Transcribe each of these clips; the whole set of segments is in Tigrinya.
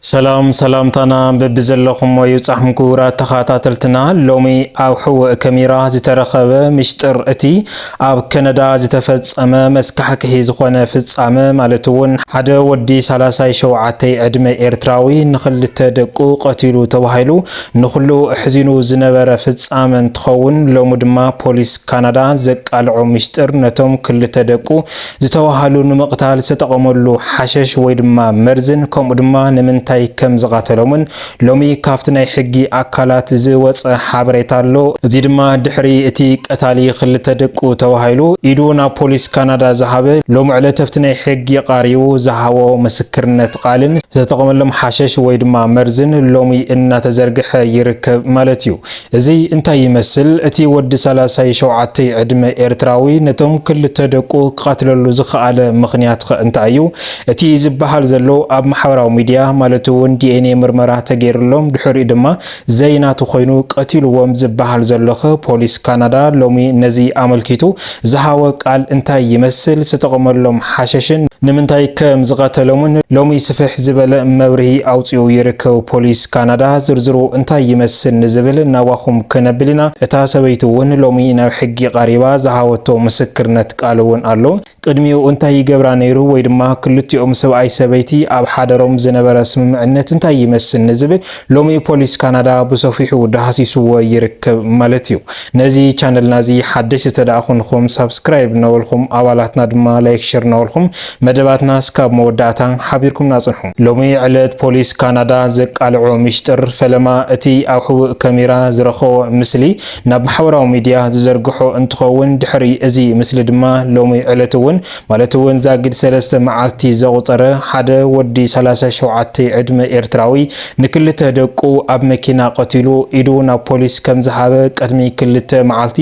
ሰላም ሰላምታና በብዘለኹሞ ይብጻሕም ክቡራት ተኻታተልትና ሎሚ ኣብ ሕውእ ከሚራ ዝተረኸበ ምሽጥር እቲ ኣብ ከነዳ ዝተፈጸመ መስካሕክሒ ዝኾነ ፍጻመ ማለት እውን ሓደ ወዲ ሳላሳይ ሸውዓተይ ዕድመ ኤርትራዊ ንኽልተ ደቁ ቀቲሉ ተባሂሉ ንኹሉ ኣሕዚኑ ዝነበረ ፍጻመ እንትኸውን ሎሚ ድማ ፖሊስ ካናዳ ዘቃልዖ ምሽጥር ነቶም ክልተ ደቁ ዝተዋሃሉ ንምቕታል ዝተጠቐመሉ ሓሸሽ ወይ ድማ መርዝን ከምኡ ድማ ንምንታይ ከም ዝቓተሎምን ሎሚ ካብቲ ናይ ሕጊ ኣካላት ዝወጸ ሓበሬታ ኣሎ። እዚ ድማ ድሕሪ እቲ ቀታሊ ክልተ ደቁ ተባሂሉ ኢዱ ናብ ፖሊስ ካናዳ ዝሃበ ሎሚ ዕለት ኣብቲ ናይ ሕጊ ቐሪቡ ዝሃቦ ምስክርነት ቓልን ዝተጠቐመሎም ሓሸሽ ወይ ድማ መርዝን ሎሚ እናተዘርግሐ ይርከብ ማለት እዩ። እዚ እንታይ ይመስል እቲ ወዲ ሳላሳይ ሸውዓተይ ዕድመ ኤርትራዊ ነቶም ክልተ ደቁ ክቀትለሉ ዝኸኣለ ምኽንያትኸ እንታይ እዩ እቲ ዝበሃል ዘሎ ኣብ ማሕበራዊ ሚድያ ማለት እውን ዲኤንኤ ምርመራ ተገይርሎም ድሕሪኡ ድማ ዘይናቱ ኮይኑ ቀቲልዎም ዝበሃል ዘሎኸ ፖሊስ ካናዳ ሎሚ ነዚ ኣመልኪቱ ዝሃወ ቃል እንታይ ይመስል፣ ዝተጠቐመሎም ሓሸሽን ንምንታይ ከም ዝቐተሎምን ሎሚ ስፍሕ ዝበለ መብርሂ ኣውጺኡ ይርከብ። ፖሊስ ካናዳ ዝርዝሩ እንታይ ይመስል ንዝብል ናባኹም ከነብል ኢና። እታ ሰበይቲ'ውን ሎሚ ናብ ሕጊ ቐሪባ ዝሃወቶ ምስክርነት ቃል'ውን ኣሎ። ቅድሚኡ እንታይ ይገብራ ነይሩ ወይ ድማ ክልቲኦም ሰብኣይ ሰበይቲ ኣብ ሓደሮም ዝነበረ ስምምዕነት እንታይ ይመስል ንዝብል ሎሚ ፖሊስ ካናዳ ብሰፊሑ ዳህሲሱዎ ይርከብ ማለት እዩ። ነዚ ቻነልና እዚ ሓደሽቲ ተደኣ ኮንኹም ሳብስክራይብ እናበልኹም ኣባላትና ድማ ላይክ ሸር እናበልኹም መደባትና እስካብ መወዳእታ ሓቢርኩምና ጽንሑ። ሎሚ ዕለት ፖሊስ ካናዳ ዘቃልዖ ሚሽጥር ፈለማ እቲ ኣብ ሕቡእ ከሜራ ዝረኸቦ ምስሊ ናብ ማሕበራዊ ሚድያ ዝዘርግሖ እንትኸውን ድሕሪ እዚ ምስሊ ድማ ሎሚ ዕለት እውን ማለት እውን ዛጊድ ሰለስተ መዓልቲ ዘቑፀረ ሓደ ወዲ ሰላሳ ሸውዓተ ዕድመ ኤርትራዊ ንክልተ ደቁ ኣብ መኪና ቀቲሉ ኢዱ ናብ ፖሊስ ከምዝሃበ ቅድሚ ክልተ መዓልቲ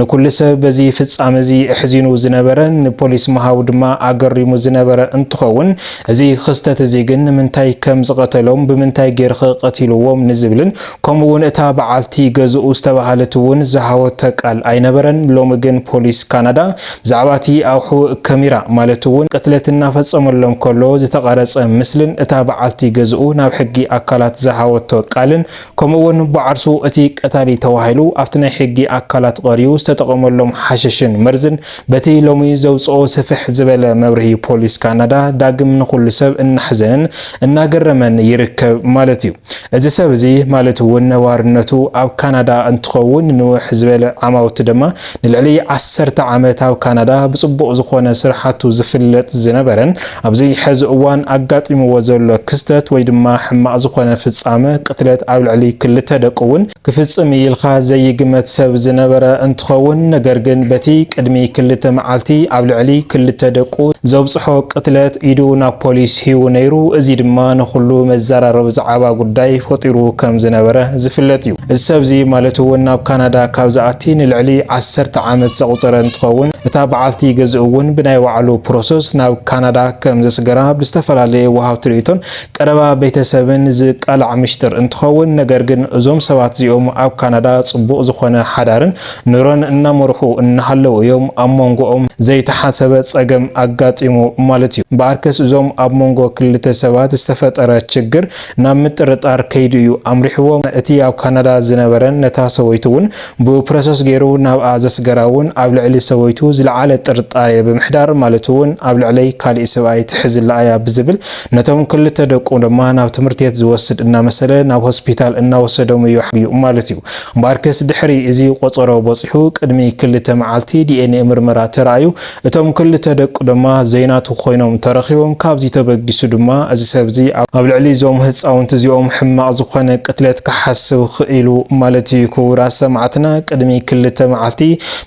ንኩሉ ሰብ በዚ ፍፃመ እዚ ኣሕዚኑ ዝነበረ ንፖሊስ ምሃቡ ድማ ኣገሪሙ ዝነበረ እንትኸውን እዚ ክስተት እዚ ግን ንምንታይ ከምዝቐተሎም ብምንታይ ገይርኸ ቀቲልዎም ንዝብልን ከምኡ እውን እታ በዓልቲ ገዝኡ ዝተበሃለት እውን ዝሃወቶ ቃል ኣይነበረን። ሎሚ ግን ፖሊስ ካናዳ ብዛዕባ እቲ ኣብ ሕውእ ከሚራ ማለት እውን ቅትለት እናፈፀመሎም ከሎ ዝተቐረፀ ምስልን እታ በዓልቲ ገዝኡ ናብ ሕጊ ኣካላት ዝሃወቶ ቃልን ከምኡ እውን ብዓርሱ እቲ ቀታሊ ተባሂሉ ኣብቲ ናይ ሕጊ ኣካላት ቐሪዩ ዝተጠቐመሎም ሓሽሽን መርዝን በቲ ሎሚ ዘውፅኦ ስፍሕ ዝበለ መብርሂ ፖሊስ ካናዳ ዳግም ንኹሉ ሰብ እናሕዘንን እናገረመን ይርከብ ማለት እዩ። እዚ ሰብ እዚ ማለት እውን ነባርነቱ ኣብ ካናዳ እንትኸውን ንውሕ ዝበለ ዓማውቲ ድማ ንልዕሊ ዓሰርተ ዓመት ኣብ ካናዳ ብፅቡቕ ዝኾነ ስርሓቱ ዝፍለጥ ዝነበረን ኣብዚ ሐዚ እዋን ኣጋጢምዎ ዘሎ ክስተት ወይ ድማ ሕማቕ ዝኾነ ፍፃመ ቅትለት ኣብ ልዕሊ ክልተ ደቁ እውን ክፍጽም እዩ ኢልካ ዘይግመት ሰብ ዝነበረ እንትኸውን፣ ነገር ግን በቲ ቅድሚ ክልተ መዓልቲ ኣብ ልዕሊ ክልተ ደቁ ዘብጽሖ ቅትለት ኢዱ ናብ ፖሊስ ሂቡ ነይሩ፣ እዚ ድማ ንኹሉ መዘራረቢ ዝዓባ ጉዳይ ፈጢሩ ከም ዝነበረ ዝፍለጥ እዩ። እዚ ሰብዚ ማለት'ውን ናብ ካናዳ ካብ ዝኣቲ ንልዕሊ ዓሰርተ ዓመት ዘቑጸረ እንትኸውን፣ እታ በዓልቲ ገዝኡ'ውን ብናይ ባዕሉ ፕሮሰስ ናብ ካናዳ ከም ዘስገራ ብዝተፈላለየ ወሃብቲ ርእይቶን ቀረባ ቤተሰብን ዝቃላዕ ምሽጥር እንትኸውን ነገር ግን እዞም ሰባት እዚኦም ኣብ ካናዳ ፅቡቕ ዝኾነ ሓዳርን ኑሮን እናመርሑ እናሃለው እዮም ኣብ ሞንጎኦም ዘይተሓሰበ ፀገም ኣጋጢሙ ማለት እዩ። እምበኣርከስ እዞም ኣብ ሞንጎ ክልተ ሰባት ዝተፈጠረ ችግር ናብ ምጥርጣር ከይዱ እዩ ኣምሪሕዎም እቲ ኣብ ካናዳ ዝነበረን ነታ ሰበይቱ እውን ብፕሮሰስ ገይሩ ናብኣ ዘስገራ እውን ኣብ ልዕሊ ሰበይቱ ዝለዓለ ጥርጣሬ ብምሕዳር ማለት እውን ኣብ ልዕለይ ካሊእ ስብኣይ ትሕዝላ እያ ብዝብል ነቶም ክልተ ደቁ ድማ ናብ ትምህርትቤት ዝወስድ እናመሰለ ናብ ሆስፒታል እናወሰዶም እዩ ሓቢኡ ማለት እዩ። እምበኣርከስ ድሕሪ እዚ ቆፀሮ በፂሑ ቅድሚ ክልተ መዓልቲ ዲኤንኤ ምርመራ ተራእዩ እቶም ክልተ ደቁ ድማ ዘይናቱ ኮይኖም ተረኺቦም፣ ካብዚ ተበጊሱ ድማ እዚ ሰብዚ ኣብ ልዕሊ እዞም ህፃውንቲ እዚኦም ሕማቕ ዝኾነ ቅትለት ክሓስብ ኽኢሉ ማለት እዩ። ክቡራት ሰማዕትና ቅድሚ ክልተ መዓልቲ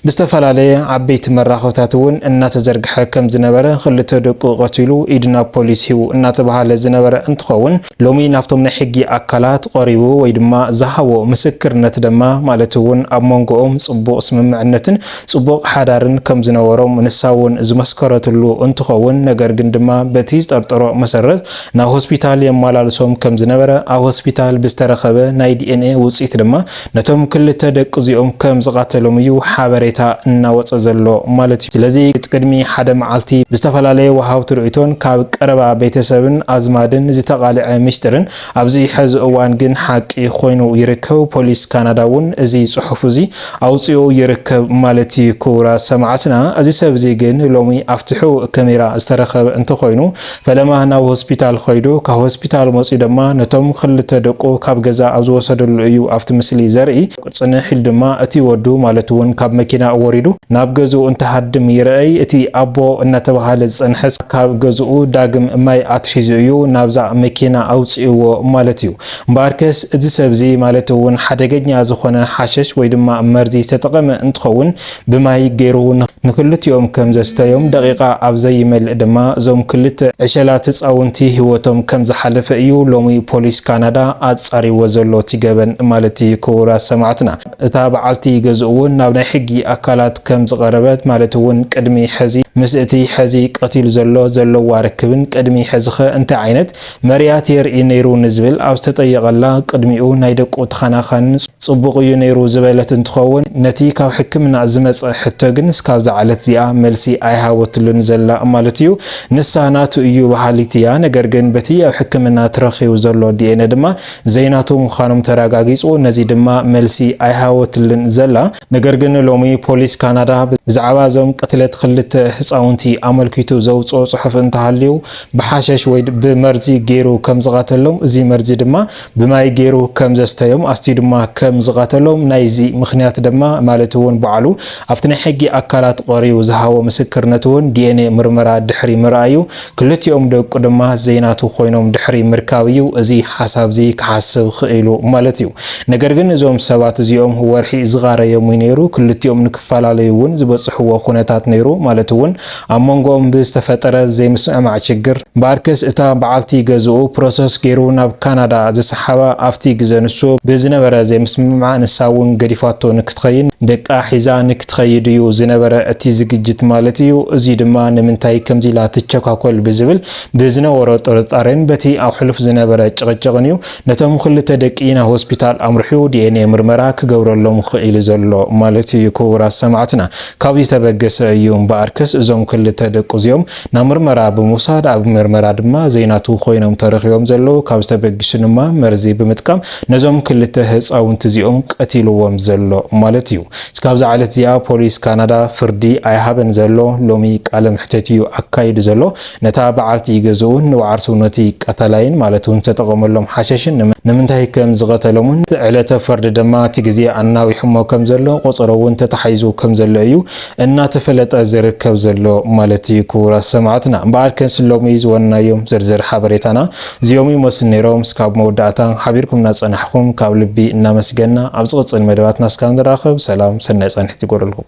ብዝተፈላለየ ዓበይቲ መራኸብታት እውን እናተዘርግሐ ከምዝነበረ ክልተ ደቁ ቐቲሉ ኢድ ናብ ፖሊስ ሂቡ እናተብሃለ ዝነበረ እንትኸውን፣ ሎሚ ናብቶም ናይ ሕጊ ኣካላት ቐሪቡ ወይ ድማ ዝሃቦ ምስክርነት ደማ ማለት እውን ኣብ መንጎኦም ፅቡቕ ስምምዕነትን ፅቡቕ ሓዳርን ከም ዝነበሮም ንሳ እውን ዝመስከረትሉ እንትኸውን ነገር ግን ድማ በቲ ዝጠርጠሮ መሰረት ናብ ሆስፒታል የማላልሶም ከም ዝነበረ ኣብ ሆስፒታል ብዝተረኸበ ናይ ዲኤንኤ ውፅኢት ድማ ነቶም ክልተ ደቂ'ዚኦም ከም ዝቓተሎም እዩ ሓበሬታ እናወጸ ዘሎ ማለት'ዩ። ስለዚ ቅድሚ ሓደ መዓልቲ ብዝተፈላለየ ወሃብቲ ርእይቶን ካብ ቀረባ ቤተሰብን ኣዝማድን ዝተቓልዐ ሚስጢርን ኣብዚ ሕዚ እዋን ግን ሓቂ ኮይኑ ይርከብ። ፖሊስ ካናዳ'ውን እዚ ጽሑፍ'ዚ ኣውጺኡ ይርከብ ማለት'ዩ። ክቡራት ሰማዕትና እዚ ሰብ'ዚ ግን ሎሚ ኣብቲ ሕቡእ ከሜራ ዝተረኸበ እንተኾይኑ፣ ፈለማ ናብ ሆስፒታል ኸይዱ ካብ ሆስፒታል መፅዩ ደማ ነቶም ኽልተ ደቁ ካብ ገዛ ኣብ ዝወሰደሉ እዩ ኣብቲ ምስሊ ዘርኢ። ፅንሕ ኢሉ ድማ እቲ ወዱ ማለት እውን ካብ መኪና ወሪዱ ናብ ገዝኡ እንትሃድም ይርኣይ። እቲ ኣቦ እናተብሃለ ዝፀንሐስ ካብ ገዝኡ ዳግም ማይ ኣትሒዙ እዩ ናብዛ መኪና ኣውፂእዎ ማለት እዩ። እምበኣርከስ እዚ ሰብ እዚ ማለት እውን ሓደገኛ ዝኾነ ሓሸሽ ወይ ድማ መርዚ ዝተጠቐመ እንትኸውን ብማይ ገይሩ እውን ንክልቲኦም ከም ዘስተዮም፣ ደቒቓ ኣብ ዘይመልእ ድማ እዞም ክልተ ዕሸላት ህጻውንቲ ህይወቶም ከም ዝሓለፈ እዩ ሎሚ ፖሊስ ካናዳ ኣጻሪዎ ዘሎ እቲ ገበን ማለት እዩ ክቡራት ሰማዕትና እታ በዓልቲ ገዝኡ እውን ናብ ናይ ሕጊ ኣካላት ከም ዝቐረበት ማለት እውን ቅድሚ ሕዚ ምስ እቲ ሕዚ ቀቲሉ ዘሎ ዘለዋ ርክብን ቅድሚ ሕዚኸ እንታይ ዓይነት መርያት የርኢ ነይሩ ንዝብል ኣብ ዝተጠየቐላ ቅድሚኡ ናይ ደቁ ተኸናኻኒ ፅቡቕ እዩ ነይሩ ዝበለት እንትኸውን ነቲ ካብ ሕክምና ዝመፀ ሕቶ ግን እስካብ ዝዓለት እዚኣ መልሲ ኣይሃበትሉን ዘላ ማለት እዩ። ንሳ ናቱ እዩ በሃሊት እያ ነገር ግን በቲ ኣብ ሕክምና ተረኺቡ ዘሎ ዲኤንኤ ድማ ዘይናቱ ምዃኖም ተረጋጊፁ ነዚ ድማ መልሲ ኣይሃበትሉን ዘላ። ነገር ግን ሎሚ ፖሊስ ካናዳ ብዛዕባ እዞም ቅትለት ኽልተ ህፃውንቲ ኣመልኪቱ ዘውፅኦ ፅሑፍ እንተሃልዩ ብሓሸሽ ወይ ብመርዚ ገይሩ ከም ዝቐተሎም፣ እዚ መርዚ ድማ ብማይ ገይሩ ከም ዘስተዮም፣ ኣስትዩ ድማ ከም ዝቐተሎም፣ ናይዚ ምኽንያት ድማ ማለት እውን ባዕሉ ኣብቲ ናይ ሕጊ ኣካላት ቐርዩ ዝሃቦ ምስክርነት እውን ዲኤንኤ ምርመራ ድሕሪ ምርኣዩ ክልቲኦም ደቁ ድማ ዘይናቱ ኮይኖም ድሕሪ ምርካብ እዩ እዚ ሓሳብ እዚ ክሓስብ ኽኢሉ ማለት እዩ። ነገር ግን እዞም ሰባት እዚኦም ወርሒ ዝቓረዮም እዩ ነይሩ፣ ክልቲኦም ንክፈላለዩ እውን ዝበፅሕዎ ኩነታት ነይሩ ማለት እውን ኣብ ሞንጎኦም ብዝተፈጠረ ዘይምስምዕማዕ ችግር ባርክስ እታ በዓልቲ ገዝኡ ፕሮሰስ ገይሩ ናብ ካናዳ ዝሰሓባ ኣብቲ ግዘ ንሱ ብዝነበረ ዘይምስምምዕ ንሳ እውን ገዲፋቶ ንክትኸይን ደቃ ሒዛ ንክትኸይድ እዩ ዝነበረ እቲ ዝግጅት ማለት እዩ እዙይ ድማ ንምንታይ ከምዚ ኢላ ትቸኳኮል ብዝብል ብዝነበሮ ጥርጣሬን በቲ ኣብ ሕሉፍ ዝነበረ ጭቕጭቕን እዩ ነቶም ኽልተ ደቂ ናብ ሆስፒታል ኣምርሑ ዲኤንኤ ምርመራ ክገብረሎም ኽኢሉ ዘሎ ማለት እዩ ክቡራት ሰማዕትና ካብዚ ዝተበገሰ እዩ እምበኣርከስ እዞም ክልተ ደቁ እዚኦም ናብ ምርመራ ብምውሳድ ኣብ ምርመራ ድማ ዘይናቱ ኮይኖም ተረኺቦም ዘለዉ ካብዚ ተበጊሱ ድማ መርዚ ብምጥቃም ነዞም ክልተ ህፃውንቲ እዚኦም ቀቲልዎም ዘሎ ማለት እዩ እስካብዛ ዕለት እዚኣ ፖሊስ ካናዳ ፍርዲ ኣይሃበን ዘሎ ሎሚ ቃለ መሕተት እዩ ኣካይዱ ዘሎ ነታ በዓልቲ ገዝኡን ንወዓርሱ ነቲ ቀታላይን ማለት እውን ዝተጠቐመሎም ሓሸሽን ንምንታይ ከም ዝቐተሎምን እቲ ዕለተ ፈርዲ ደማ እቲ ግዜ ኣናዊሑሞ ከም ዘሎ ቆጸሮ እውን ተታሓሒዙ ከም ዘሎ እዩ እናተፈለጠ ዝርከብ ዘሎ ማለት እዩ ክቡራት ሰማዕትና እምበኣር ከንስ ሎሚ ዝወንናዮም ዝርዝር ሓበሬታና እዚኦም ይመስሉ ነይሮም እስካብ መወዳእታ ሓቢርኩምና ዝጸናሕኹም ካብ ልቢ እናመስገና ኣብ ዝቕጽል መደባትና እስካብ ንራኸብ ሰላም ሰናይ ጻንሒት ይጎረልኩም